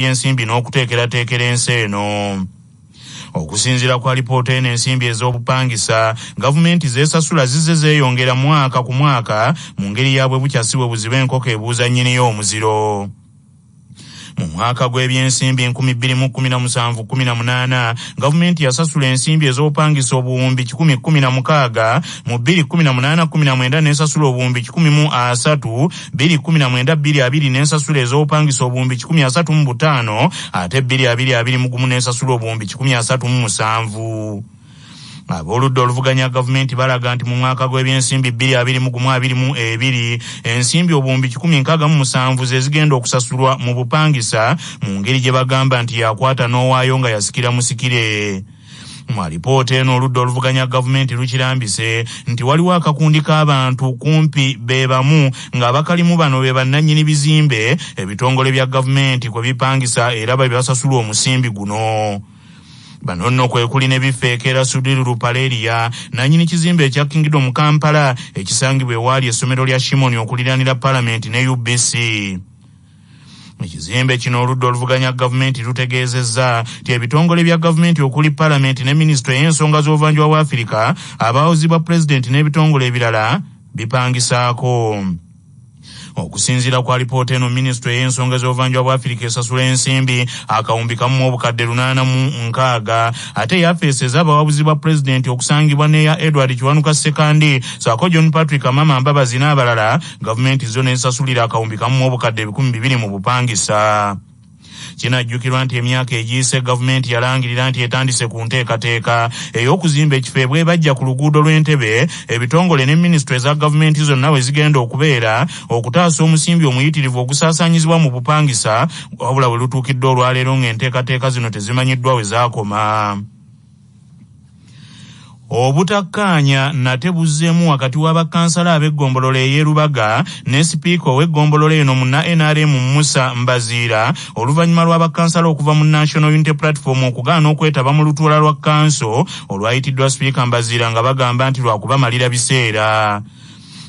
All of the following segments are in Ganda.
by'ensimbi n'okuteekerateekera ensi eno. Okusinziira kwa lipoota eno ensimbi ez'obupangisa gavumenti z'esasula zizze zeeyongera mwaka ku mwaka mu ngeri ya bwe bukya si bwe buziba enkoko ebuuza nnyiniyo omuziro mu mwaka gw'ebyensimbi 2017-18 gavumenti yasasula ensimbi ez'obupangisa obuwumbi 116 mu 2018-19 n'esasula obuwumbi 1 mu 3 bbiri kkumi na mwenda bbiri abiri n'ensasula ez'obupangisa obuwumbi kikumi asatu mu butaano ate bbiri abiri abiri mu gumu n'ensasula obuwumbi kikumi asatu mu musanvu ab'oludda oluvuganya gavumenti balaga nti mu mwaka gw'ebyensimbi bbiri abiri mu gumu abiri mu ebiri ensimbi obuwumbi kikumi nkaaga mu musanvu ze zigenda okusasulwa mu bupangisa mu ngeri gye bagamba nti yakwata n'owaayo nga yasikira musikire Mu alipoota eno oludda oluvuganya gavumenti lukirambise nti waliwo akakundi k'abantu kumpi be bamu ng'abakalimu bano be bannannyini bizimbe ebitongole bya gavumenti kwe bipangisa era be basasulwa omusimbi guno bano nno kwe kuli ne bifeekera sudiri lupaleria nanyini kizimbe ekya kingdom kampala ekisangibwa ewaali essomero lya shimoni okuliranira palamenti ne ubc Mu kizimbe kino oludda oluvuganya gavumenti lutegeezezza nti ebitongole bya gavumenti okuli palamenti ne minisitule ey'ensonga z'obuvanjuba bwa afirika abawozi bwa pulezidenti n'ebitongole ebirala bipangisaako okusinziira kwa lipoota eno minisitule ey'ensonga z'obuvanjuba bwa afirika esasula ensimbi akawumbi kamu mu obukadde lunaana mu nkaaga ate yafeesi ez'abawabuzi ba pulezidenti okusangibwa n'eya edward kiwanuka sekandi saako john patrick amama mbabazi n'abalala gavumenti zo nezisasulira akawumbi kamu mu obukadde ebikumi bibiri mu bupangisa kinajjukirwa nti emyaka egiyise gavumenti yalangirira nti etandise ku nteekateeka ey'okuzimba ekifo ebwebajja ku luguudo lw'entebe ebitongole ne minisitule eza gavumenti zonna we zigenda okubeera okutaasa omusimbi omuyitirivu ogusaasaanyizibwa mu bupangisa wabula we lutuukidde olwaleero ng'enteekateeka zino tezimanyiddwa we zaakoma Obutakkaanya nate buzzeemu wakati wa bakkansala ab'eggombolola ey'e Lubaga ne sipiika ow'eggombolola eno munna nrm Musa Mbaziira oluvannyuma lwa bakkansala okuva mu National Unity Platform okugaana okwetaba mu lutuula lwa kkanso olwayitiddwa sipiika Mbaziira nga bagamba nti lwakubamalira biseera.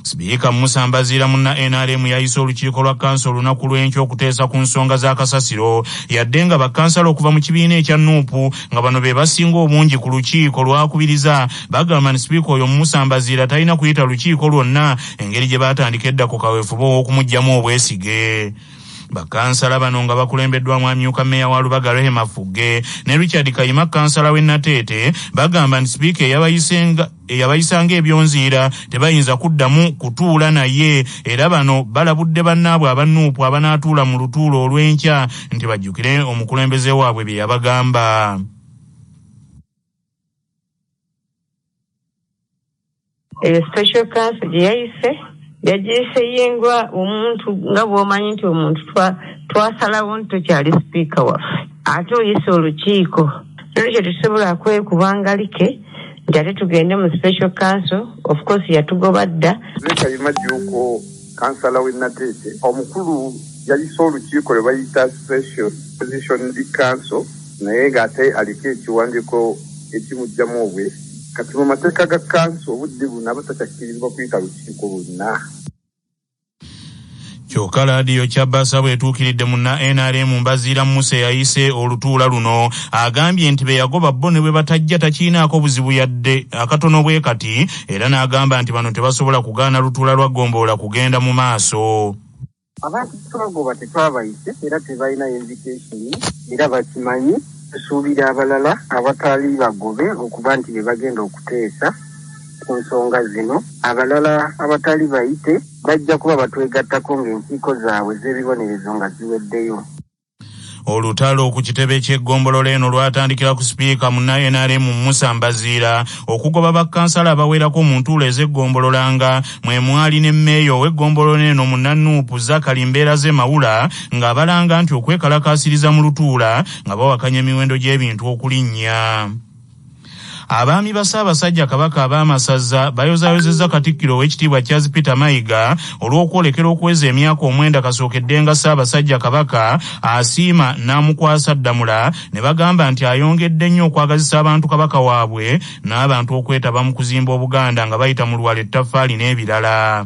Sipiika Musa Mbaziira mu nrm yayise olukiiko lwa kkanso olunaku lw'enkya okuteesa ku nsonga za kasasiro yadde nga bakkansala okuva mu kibiina ekya nup nga bano be basinga obungi ku lukiiko lwakubiriza bagamba nti sipiika oyo Musa Mbaziira talina kuyita lukiiko lwonna engeri gye baatandika edda ku kaweefube ow'okumuggyamu obwesige bakansala bano nga bakulembeddwamu amyuka meeya wa lubaga rehema fugge ne richard kayima kansala w'e nateete bagamba nti sipiika eyabayisenga eyabayisa ng'ebyonziira tebayinza kuddamu kutuula naye era bano balabudde bannaabwe aba nup abanaatuula mu lutuula olw'enkya nti bajjukire omukulembeze waabwe bye yabagamba eyo special council gye yayise yagiyise yingwa omuntu nga bw'omanyi nti omuntu twasalawo nti tokyali sipiika waffe ate oyise olukiiko nolwekyo tetusobola kwekubangalike nti ate tugende mu special council of course yatugoba dda nekayima juuko kansala w'e nateete omukulu yayise olukiiko lwe bayita special position council naye ng'ate aliko ekiwandiiko ekimugjamu obwe kati mu mateeka ga kanso obudde buno aba takyakkirizibwa kuyita lukiiko lwonna kyoka laadiyo kyabasa bwetuukiridde munna nrm mbaziira musa eyayise olutuula luno agambye nti beyagoba bo ne bwe batajja takiinaako buzibu yadde akatono bwe kati era n'agamba nti bano tebasobola kugaana lutuula lwa ggombolola kugenda mu maaso abantu twagoba tetwabayise era tebalina invitation era bakimanyi tusuubira abalala abataali bagobe okuba nti be bagenda okuteesa ku nsonga zino, abalala abatali bayite bajja kuba batwegattako ng'enkiiko zaabwe z'ebibonerezo nga ziweddeyo. Olutalo ku kitebe ky'eggombolola eno lwatandikira ku sipiika munna nrm Musa Mbaziira okugoba bakkansala abawerako mu ntuula ez'eggombolola nga mwe mwali ne mmeeya ow'eggombolola eno munna nup Zakali Mbeeraze Mawula ng'abalanga nti okwekalakaasiriza mu lutuula nga bawakanya emiwendo gy'ebintu okulinnya. Abaami ba Ssaabasajja Kabaka ab'Amasazza bayozaayozezza Katikkiro ow'ekitiibwa Charles Peter Mayiga olw'okwolekera okuweza emyaka omwenda kasookeddenga Ssaabasajja Kabaka asiima n'amukwasa Ddamula ne bagamba nti ayongedde nnyo okwagazisa abantu Kabaka waabwe n'abantu okwetaba mu kuzimba Obuganda nga bayita mu Luwalo, Ettaffaali n'ebirala.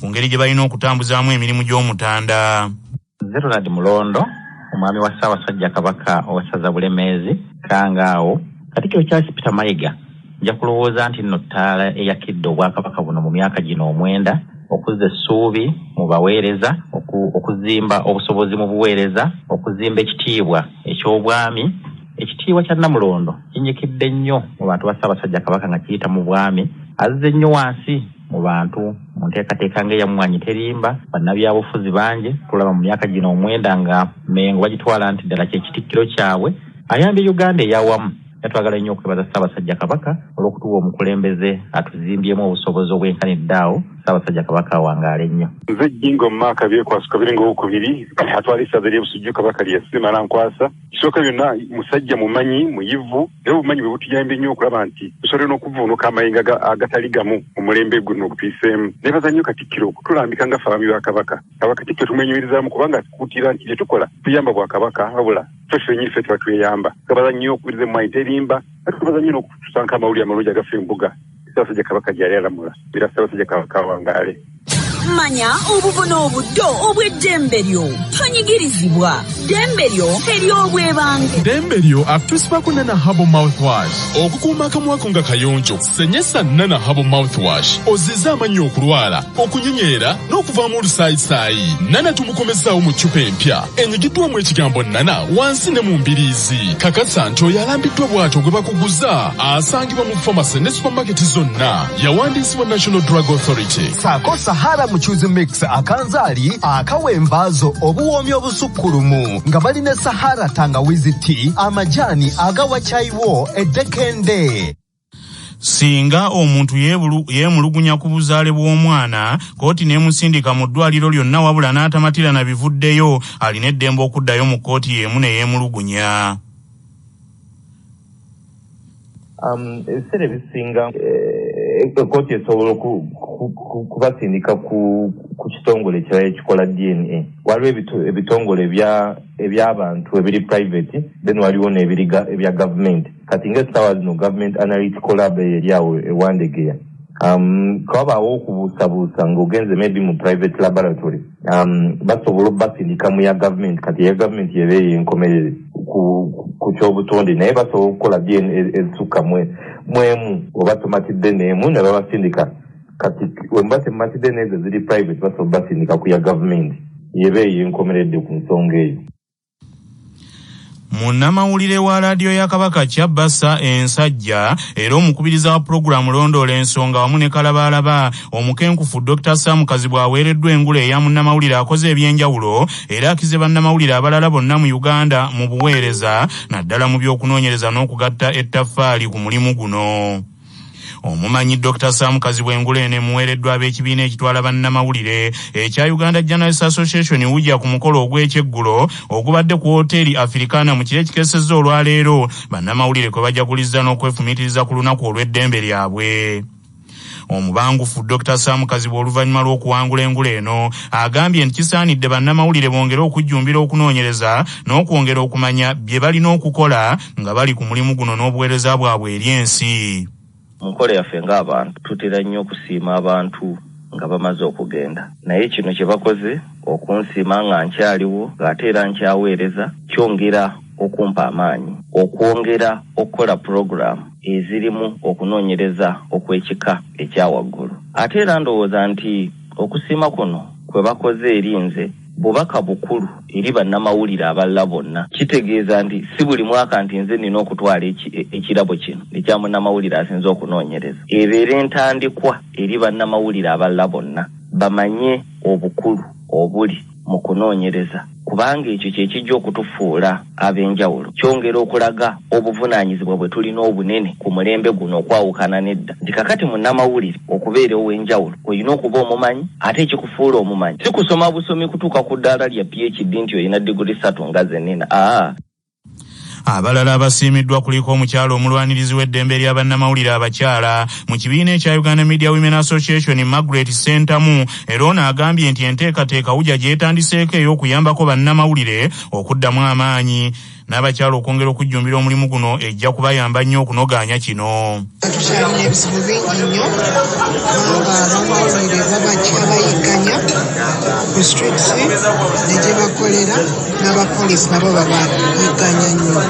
ku ngeri gye balina okutambuzaamu emirimu gy'Omutanda. Nze Ronald Mulondo, omwami wa Ssaabasajja Kabaka ow'essaza Bulemeezi, Kkangaawo, Katikkiro Charles Peter Mayiga nja kulowooza nti nno ttaala eyakidde Obwakabaka buno mu myaka gino omwenda okuzza essuubi mu baweereza, okuzimba obusobozi mu buweereza, okuzimba ekitiibwa eky'Obwami Ekitiibwa kya Nnamulondo kinyikidde nnyo mu bantu ba Ssaabasajja Kabaka nga kiyita mu bwami, azze nnyo wansi. mu bantu mu nteekateeka nga eyamwanyi terimba bannabyabufuzi bangi tulaba mu myaka gino omwenda nga mengo bagitwala nti ddala kyekitikkiro kyabwe ayambye uganda eyawamu yatwagala nnyo okwebaza ssaabasajja kabaka olw'okutuwa omukulembeze atuzimbyemu obusobozi obwenkanidde awo ssaabasajja kabaka awangaale nnyo nze jjingo mu maaka byekwasuka biringa owokubiri atwala essaza ly'ebusujju kabaka lyesima nankwasa Kisooka byonna musajja mumanyi muyivu era obumanyi bwe butuyambye nnyo okulaba nti tusobole n'okuvuunuka amayengo agatali gamu omulembe guno ogutuyiseemu. Neebaza nnyo Katikkiro okutulambika nga ffe Abaami ba Kabaka. Aba Katikkiro tumwenyumirizaamu kubanga atukuutira nti bye tukola tuyamba Bwakabaka wabula ffe ffennyini ffe tuba tweyamba. Twebaza nnyo okubiriza emmwaanyi terimba ate twebaza nnyo n'okutusanko amawulire amalungi agafa embuga. Ssabasaja Kabaka gyali alamula era Ssabasaja Kabaka awangaale. Manya obubona obuddo obw'eddembe lyo. Tonyigirizibwa. Ddembe lyo ery'obwebange. Ddembe lyo akutusibako Nana Herbal Mouthwash. Okukuuma akamwako nga kayonjo, senyesa Nana Herbal Mouthwash ozzize amannyo okulwala, okunyinyeera n'okuvaamu olusaayisaayi. Nana tumukomezzaawo mu ccupa empya enyigiddwamu ekigambo Nana wansi ne mu mbiriizi. Kakasa nti oyo alambiddwa bw'atyo gwe bakuguza asanga Iba mu pharmacy ne supermarket zonna yawandiisibwa National Drug Authority. saako sahara mucuzi mix akanzaali akawa envaazo obuwoomi obusukkulumu nga bali ne sahara tangawizi ti amajaani agawa kyayiwo eddekende Singa omuntu yeebulu- yeemulugunya ku buzaale bw'omwana, kkooti n'emusindika mu ddwaaliro lyonna wabula n'atamatira na bivuddeyo, alina eddembe okuddayo mu kkooti y'emu ne yeemulugunya. Um, ebiseera ebisinga ekooti eh, esobola kubasindika ku kitongole ekirala ekikola dna waliwo ebitongole ebyabantu ebiri private then waliwo nebiri ebya gavumenti kati nga esaawa zino gavumenti analytical lab eyo eri awo ewandegeya um, kawabaawo okubuusabuusa ngaogenze maybe mu private laboratory um, basobola obasindika mu ya gavumenti kati eya gavumenti eba eyo enkomerere ku kyobutonde naye basobola okukola dna e, ezisukka mwemu oba tomatidde neemu ne babasindika kati wemuba temumatidde neezo ziri private basobola obasindika ku ya gavumenti eba eyo enkomeredde ku nsonga eyo munnamawulire wa laadiyo ya kabaka kyabbasa ensajja era omukubiriza wa pulogulaamu londoola ensonga wamu ne kalabaalaba omukenkufu dr sam kazibwe aweereddwa engulu eya munnamawulire akoze ebyenjawulo era akize bannamawulire abalala bonna mu uganda mu buweereza naddala mu by'okunoonyereza n'okugatta ettaffaali ku mulimu guno Omumanyi Dokita Sam Kazibwe engule eno emuweereddwa ab'ekibiina ekitwala bannamawulire ekya Uganda Journalists Association UJA ku mukolo ogw'ekyeggulo ogubadde ku wooteeri Afirikaana mu kiro ekikesezza olwaleero bannamawulire kwe bajaguliza n'okwefumiitiriza ku lunaku olw'eddembe lyabwe. Omubangufu Dr Sam Kazibwe oluvannyuma lw'okuwangula engule eno agambye nti kisaanidde bannamawulire bongere okujjumbira okunoonyereza n'okwongera okumanya bye balina okukola nga bali ku mulimu guno n'obuweereza bwabwe eri ensi. Mu nkola yaffe ng'abantu tutera nnyo okusiima abantu nga bamaze okugenda naye kino kye bakoze okunsiima nga nkyaliwo ng'ate era nkyaweereza kyongera okumpa amaanyi okwongera okukola pulogulaamu ezirimu okunoonyereza okw'ekika ekya waggulu ate era ndowooza nti okusiima kuno kwe bakoze eri nze Bubaka bukulu eri bannamawulire abalala bonna. Kitegeeza nti si buli mwaka nti nze nnina okutwala ekirabo kino ekya munnamawulire asinze okunoonyereza. Ebeere ntandikwa eri bannamawulire abalala bonna bamanye obukulu obuli mu kunoonyereza kubanga ekyo kye kijja okutufuula. ab'enjawulo kyongera okulaga obuvunaanyizibwa bwe tulina obunene ku mulembe guno okwawukana n'edda nti kakati munnamawulire okubeera ow'enjawulo olina okuba omumanyi ate ekikufuula omumanyi si kusoma busomi kutuuka ku ddaala lya PHD nti olina diguli ssatu nga ze nina aa Abalala abasiimiddwa kuliko omukyala omulwanirizi w'eddembe lya bannamawulire abakyala mu kibiina ekya Uganda Media Women Association Margaret Ssentamu era ono agambye nti enteekateeka UJA gy'etandiseeko ey'okuyambako bannamawulire okuddamu amaanyi n'abakyala okwongera okujjumbira omulimu guno ejja kubayamba nnyo okunogaanya kino tukyalina ebizibu bingi nnyo ng'abamawulire babajja bayigganya ku streets ne gye bakolera n'abapolisi nabo babayigganya nnyo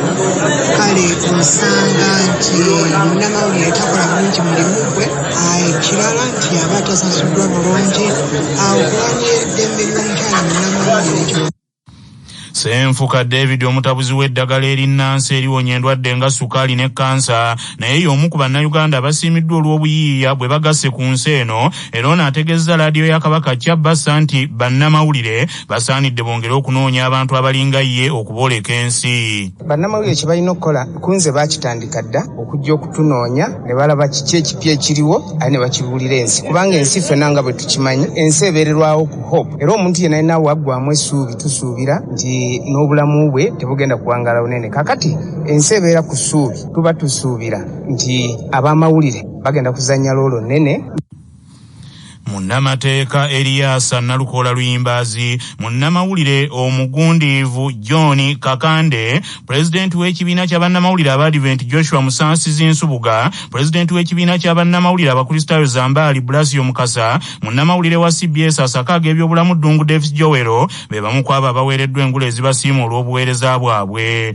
kale osanga nti munnamawulire takola bulungi mulimu gwe ekirala nti aba tasasuddwa bulungi awo kulwanira eddembe ly'omukyala munnamawulire Senfuka David omutabuzi w'eddagala erinnansi eriwonya endwadde nga sukaali ne kansa naye y'omu ku bannayuganda abasiimiddwa olw'obuyiiya bwe bagasse ku nsi eno era ono ategeezza laadiyo ya Kabaka Kyabassa nti bannamawulire basaanidde bongere okunoonya abantu abalinga ye okubooleka ensi. Bannamawulire kye balina okukola ku nze baakitandika dda okujja okutunoonya ne balaba kiki ekipya ekiriwo ali ne bakibuulira ensi kubanga ensi ffena nga bwe tukimanyi ensi ebeererwawo ku hope era omuntu yenna yenna waggwamu essuubi tusuubira nti n'obulamu bwe tebugenda kuwangaala bunene kakati ensi ebeera ku ssuubi tuba tusuubira nti ab'amawulire bagenda kuzannya loolo nnene Munnamateeka Eriasa Nalukoola Luyimbaazi, munnamawulire omugundiivu John Kakande, pulezidenti w'ekibiina kya bannamawulire Abaadiventi Joshua Musaasizi Nsubuga, pulezidenti w'ekibiina kya bannamawulire Abakristaayo Zambaali Bulasio Mukasa, munnamawulire wa cbs asakaaga ebyobulamu Ddungu Davis Joel be bamu ku abo abaweereddwa engule ezibasiima olw'obuweereza bwabwe.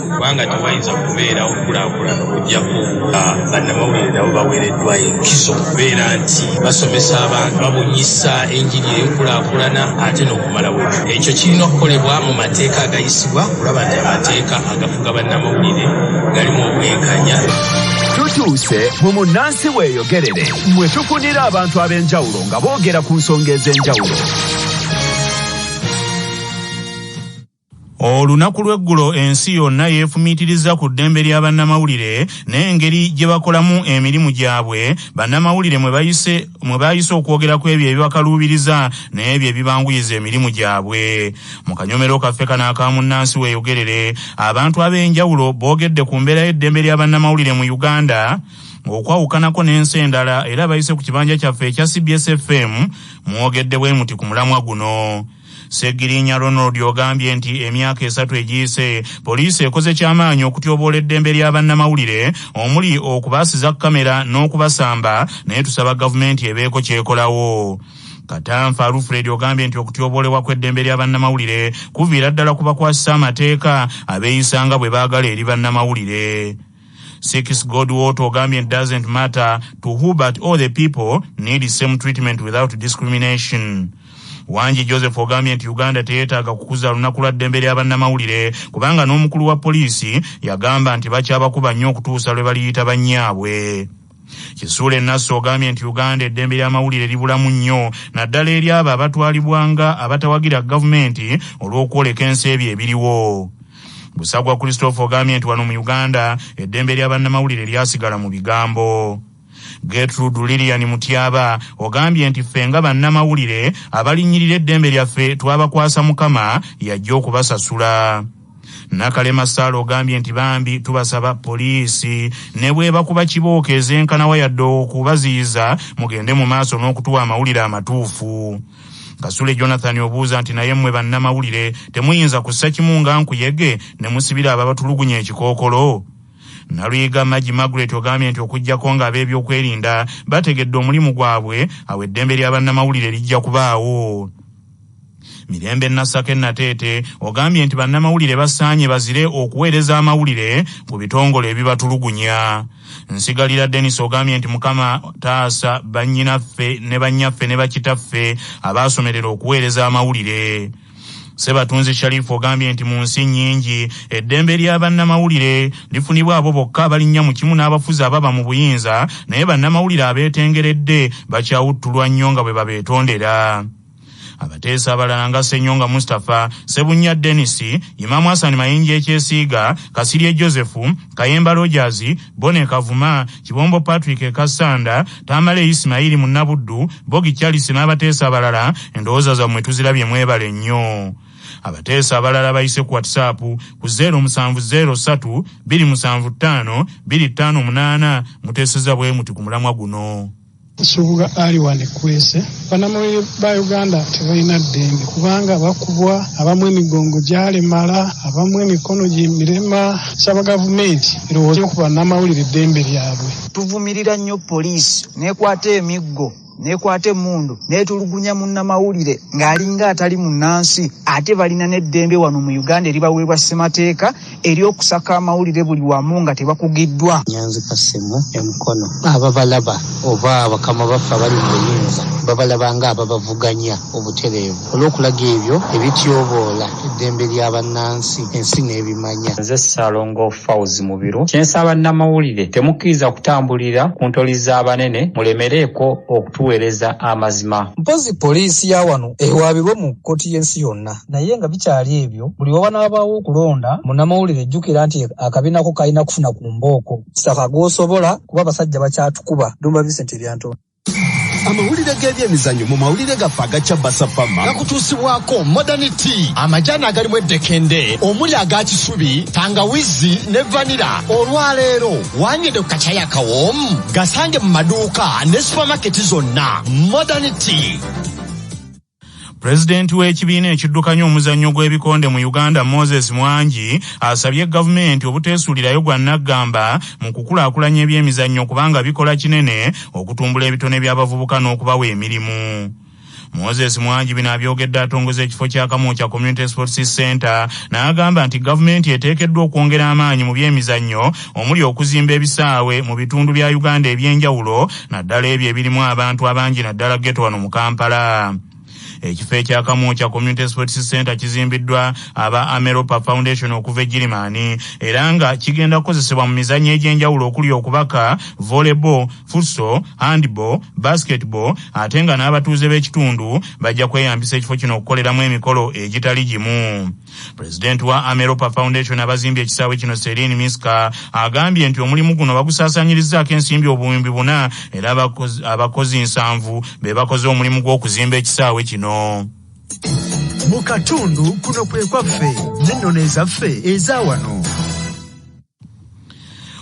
kubanga tewayinza kubeerawo kulaakulana okujjako nga bannamawulire nabo baweereddwa enkizo okubeera nti basomesa abantu babunyisa enjiri ey'enkulaakulana ate n'okumalawo ekyo ekyo kirina okukolebwa mu mateeka agayisibwa kulaba nti amateeka agafuga bannamawulire galimu obwenkanya tutuuse mu munnansi weeyogerere mwe tukunira abantu ab'enjawulo nga boogera ku nsonga ez'enjawulo Olunaku lw'eggulo ensi yonna yeefumiitirizza ku ddembe lya bannamawulire n'engeri gye bakolamu emirimu gyabwe, bannamawulire mwe bayise mwe baayise okwogera ku ebyo ebibakaluubiriza n'ebyo ebibanguyiza emirimu gyabwe. Mu kanyomero kaffe kano aka Munnansi Weeyogerere, abantu ab'enjawulo boogedde ku mbeera y'eddembe lya bannamawulire mu Uganda, okwawukanako n'ensi endala era abayise ku kibanja kyaffe ekya cbs FM mwogedde bwe muti ku mulamwa guno. Ssegirinya Ronald ogambye nti emyaka esatu egiyise poliisi ekoze ky'amaanyi okutyoboola eddembe lya bannamawulire omuli okubaasiza kkamera n'okubasamba naye tusaba gavumenti ebeeko ky'ekolawo. Katanfa Alfred ogambye nti okutyoboolebwa kw'eddembe lya bannamawulire kuviira ddala ku bakwasisa amateeka abeeyisa nga bwe baagala eri bannamawulire. Six God water ogambye it doesn't matter to who but all the people need same treatment without discrimination. Wanji Joseph ogambye nti Uganda teyetaaga kukuza lunaku lwa ddembe lya bannamawulire kubanga n'omukulu wa poliisi yagamba nti bakyabakuba nnyo okutuusa lwe baliyita bannyaabwe. Kisuule Nassi ogambye nti Uganda eddembe ly'amawulire libulamu nnyo naddala eri abo abatwalibwa nga abatawagira gavumenti olw'okwoleka ensi ebyo ebiriwo. Busagwa Christopher ogambye nti wano mu Uganda eddembe lya bannamawulire lyasigala mu bigambo. Getrude Lilian Mutyaba ogambye nti ffe nga bannamawulire abalinnyirira eddembe lyaffe twabakwasa Mukama y'ajja okubasasula. Nakalema Saala ogambye nti bambi tubasaba poliisi nebwebakuba kibooko ezenkanawa yadde okubaziyiza mugende mu maaso n'okutuwa amawulire amatuufu. Kasule Jonathan obuuza nti naye mmwe bannamawulire temuyinza kussa kimu nga nkuyege ne musibira ababatulugunya ekikookolo? Naluyiga Magi Margaret ogambye nti okuggyako nga ab'ebyokwerinda bategedde omulimu gwabwe, awo eddembe lya bannamawulire lijja kubaawo. Mirembe Nasake Nateete ogambye nti bannamawulire basaanye bazire okuweereza amawulire ku bitongole ebibatulugunya. Nsigalira Denis ogambye nti Mukama taasa bannyinaffe ne bannyaffe ne bakitaffe abaasomerera okuweereza amawulire. Ssebatunzi Sharif ogambye nti mu nsi nnyingi eddembe lya bannamawulire lifunibwa abo bokka abalinnya mu kimu n'abafuzi ababa mu buyinza naye bannamawulire abeetengeredde bakyawuttulwa nnyo nga bwe babeetondera. abateesa abalala nga senyonga mustapha sebunya denis imamu hasani mayinja ekyesiiga kasirye joseph kayemba rogers bone kavuma kibombo patrick ekasanda tamale isimayiri munnabuddu bogi charles n'abateesa abalala endowooza zammwe tuzirabye mwebale nnyo abateesa abalala bayise ku whatsapp ku 0703275258 muteeseza bwe muti ku mulamwa guno Nsubuga Ali wano e Kwese. Bannamawulire ba Uganda tebalina ddembe kubanga bakubwa, abamu emigongo gyalemala, abamu emikono gimirema. Nsaba gavumenti erowooze ku bannamawulire eddembe lyabwe. Tuvumirira nnyo poliisi n'ekwata emiggo n'ekwata emmundu n'etulugunya munnamawulire ng'alinga atali munnansi ate balina n'eddembe wano mu Uganda eribaweebwa ssemateeka eri okusaka amawulire buli wamu nga tebakugiddwa nyanzi kasimu emukono ababalaba oba bakama baffe abali mu buyinza babalaba nga ababavuganya obutereevu olw'okulaga ebyo ebityoboola eddembe lya bannansi ensi n'ebimanya nze saalongo fauz mubiru kyensaba namawulire temukkiriza kutambulira ku ntoli z'abanene mulemereeko okutuweereza amazima mpozi poliisi ya wano ewaabirwe mu kkoti y'ensi yonna naye nga bikyali ebyo buli wawanaabawo okulonda munamawulire jjukira nti akabinako kalina kufuna ku mbooko saka gwosobola kuba abasajja bakyatukuba dumba vincent ebyantoo amawulire g'ebyemizanyo mu mawulire gaffe agakya basafama gakutuusibwako modern t amajaani agalimu eddekende omuli aga kisubi tangawizi ne vanira olwaleero wanyede ku kakyayi akawoomu gasange mu maduuka ne supamaketi zonna modern t Pulezidenti w'ekibiina ekiddukanya omuzannyo gw'ebikonde mu Uganda Moses Mwangi asabye gavumenti obuteesuulirayo gwa nnaggamba mu kukulaakulanya ebyemizannyo kubanga bikola kinene okutumbula ebitone by'abavubuka n'okubawa emirimu. Moses Mwangi bino abyogedde atongoza ekifo kya Kamwokya Community Sports Center n'agamba nti gavumenti eteekeddwa okwongera amaanyi mu byemizannyo omuli okuzimba ebisaawe mu bitundu bya Uganda eby'enjawulo naddala ebyo ebirimu abantu abangi naddala geto wano mu Kampala. Ekifo ekya Kamwokya Community Sports Center kizimbiddwa aba Ameropa Foundation okuva e Girimani era nga kigenda kukozesebwa mu mizannyo egy'enjawulo okuli okubaka, volleyball, futsal, handball, basketball ate nga n'abatuuze b'ekitundu bajja kweyambisa ekifo kino okukoleramu emikolo egitali gimu. Pulezidenti wa Ameropa Foundation abazimbye ekisaawe kino Celine Miska agambye nti omulimu guno bagusaasanyirizzaako ensimbi obuwumbi buna era abakozi nsanvu be bakoze omulimu gw'okuzimba ekisaawe kino. Mu katundu kuno kwe kwaffe n'ennono ezaffe eza wano.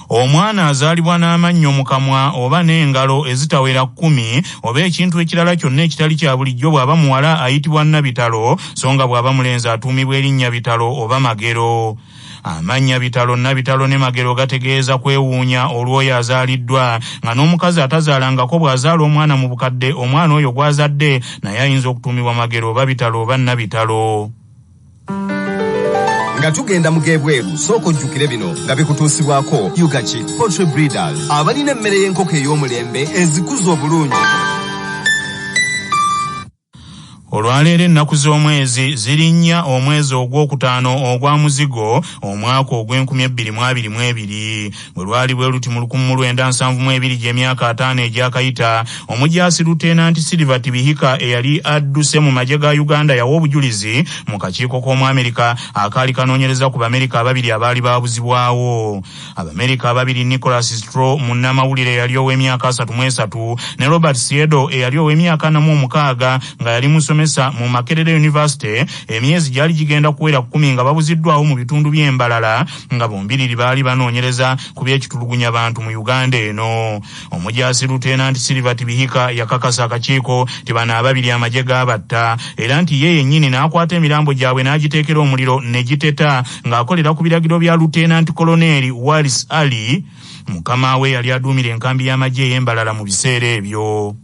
omwana azaalibwa n'amannyo mu kamwa oba n'engalo ezitawera kkumi oba ekintu ekirala kyonna ekitali kya bulijjo bw'aba muwala ayitibwa nnabitalo so nga bw'aba mulenzi atuumibwa erinnya bitalo oba magero amannya bitalo nabitalo ne magero gategeeza kwewuunya olw'oyo azaaliddwa nga n'omukazi atazaalangako bw'azaala omwana mu bukadde omwana oyo gw'azadde naye ayinza okutuumibwa magero oba bitalo oba nabitalo nga tugenda mu g'ebweru sooka ojjukire bino nga bikutuusibwako ugaki poultry breeders abalina emmere y'enkoko ey'omulembe ezikuza obulungi olwaleero ennaku z'omwezi zirinnya omwezi ogwokutaano ogwa muzigo omwaka ogw'enkumi ebbiri mu abiri mu ebiri bwe lwali bwe luti mu lukumu lwenda nsanvu mu ebiri gy'emyaka ataano egyakayita omujaasi lutenanti silver tibihika eyali adduse mu magye ga uganda yawa obujulizi mu kakiiko k'omu amerika akaali kanoonyereza ku bamerika ababiri abaali baabuzibwawo abamerika ababiri nicholas stro munnamawulire eyali ow'emyaka asatu mu esatu ne robert siedo eyali ow'emyaka namu omukaaga nga yali musomesa mu makerere university emyezi gyali gigenda kuwera kumi nga babuziddwawo mu bitundu by'embalala nga bombiriri baali banoonyereza ku by'ekitulugunya bantu mu uganda eno omujaasi lutenanti silver tibihika yakakasa akakiiko ti bano ababiri amagye gaabatta era nti ye yennyini n'akwata emirambo gyabwe n'agiteekera omuliro ne giteta ng'akolera ku biragiro bya lutenanti koloneeri waris ali mukama we yali aduumira enkambi y'amagye ey'embalala mu biseera ebyo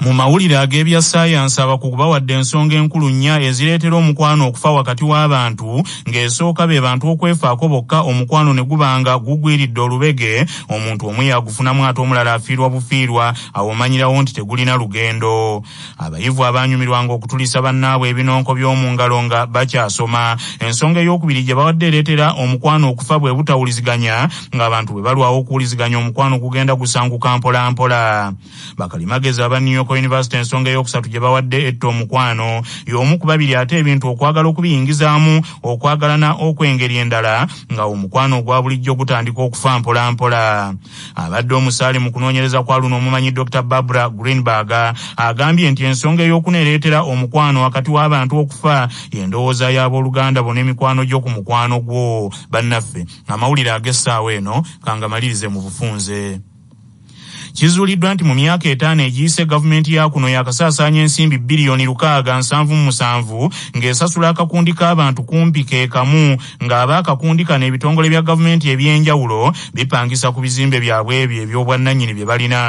Mu mawulire ag'ebya ssaayansi abakugu bawadde ensonga enkulu nnya ezireetera omukwano okufa wakati w'abantu ng'esooka be bantu okwefaako bokka omukwano ne guba nga gugwiridde olubege omuntu omu yagufunamu ate omulala afiirwa bufiirwa awo omanyirawo nti tegulina lugendo abayivu abaanyumirwanga okutulisa bannaabwe ebinonko by'omu ngalo nga bakyasoma ensonga ey'okubiri gye bawadde ereetera omukwano okufa bwe butawuliziganya ng'abantu bwe balwawo okuwuliziganya omukwano gugenda gusanguka mpolampola Bakalimagezi aba New York University ensonga ey'okusatu gye bawadde etta omukwano y'omu ku babiri ate ebintu okwagala okubiyingizaamu okwagalana okw'engeri endala nga omukwano ogwa bulijjo gutandika okufa mpolampola. Abadde omusaale mu kunoonyereza kwa luno omumanyi Dr Barbara Greenberg agambye nti ensonga ey'okuna ereetera omukwano wakati w'abantu okufa y'endowooza y'abooluganda bona emikwano gyo ku mukwano gwo. Bannaffe, amawulire ag'essaawa eno kangamalirize mu bufunze. Kizuuliddwa nti mu myaka etaano egiyise gavumenti ya kuno yakasaasaanya ensimbi bbiriyoni lukaaga nsanvu mu musanvu ng'esasula akakundi k'abantu kumpi ke kamu ng'aba akakundi kano ebitongole bya gavumenti eby'enjawulo bipangisa ku bizimbe byabwe ebyo eby'obwannannyini bye balina.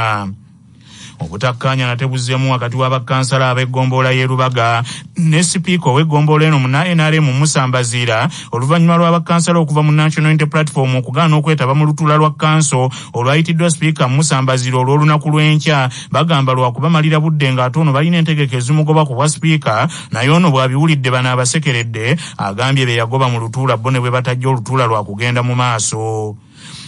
obutakkaanya nate buzzemu wakati wa bakkansala ab'eggombolola y'e Lubaga ne sipiika ow'eggombolola eno muna nrm Musa Mbaziira oluvannyuma lwa bakkansala okuva mu National Unity Platform okugaana okwetaba mu lutula lwa kkanso olwayitiddwa sipiika Musa Mbazira olw'olunaku lw'enkya bagamba lwakubamalira budde ng'ate ono balina entegeka ezimugoba ku bwa sipiika naye ono bw'abiwulidde bano abasekeredde agambye be yagoba mu lutuula bo ne bwe batajja olutuula lwakugenda mu maaso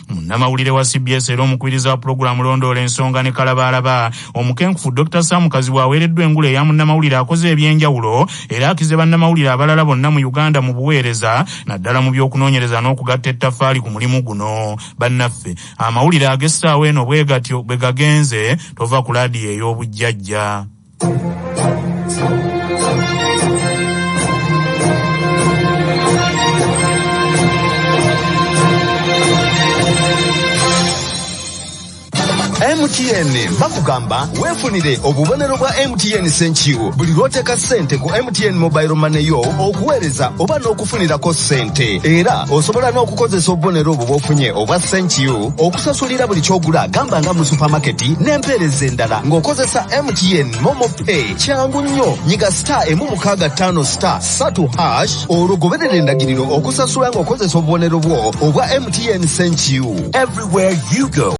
munnamawulire wa cbs era omukubiriza wa pulogulaamu londoola ensonga ne kalabaalaba omukenkufu dr sam kazibwe aweereddwa engule eya munnamawulire akoze eby'enjawulo era akize bannamawulire abalala bonna mu uganda mu buweereza naddala mu by'okunoonyereza n'okugatta ettaffaali ku mulimu guno bannaffe amawulire ag'essaawa eno bwe gatyo bwe gagenze tova ku laadiyo ey'obujjajja mtn bakugamba weefunire obubonero bwa mtn senkiwo buli lw'oteeka ssente ku mtn mobile money yo okuweereza oba n'okufunirako ssente era osobola n'okukozesa obubonero obwo bw'ofunye obwa senkiwo okusasulira buli ky'ogula gamba nga mu supamaketi n'empeereza endala ng'okozesa mtn momo pay kyangu nnyo nyiga star emu mukaaga ttaano star satu hash olwo goberera endagiriro okusasula ng'okozesa obubonero bwo obwa mtn senkiwo everywhere you go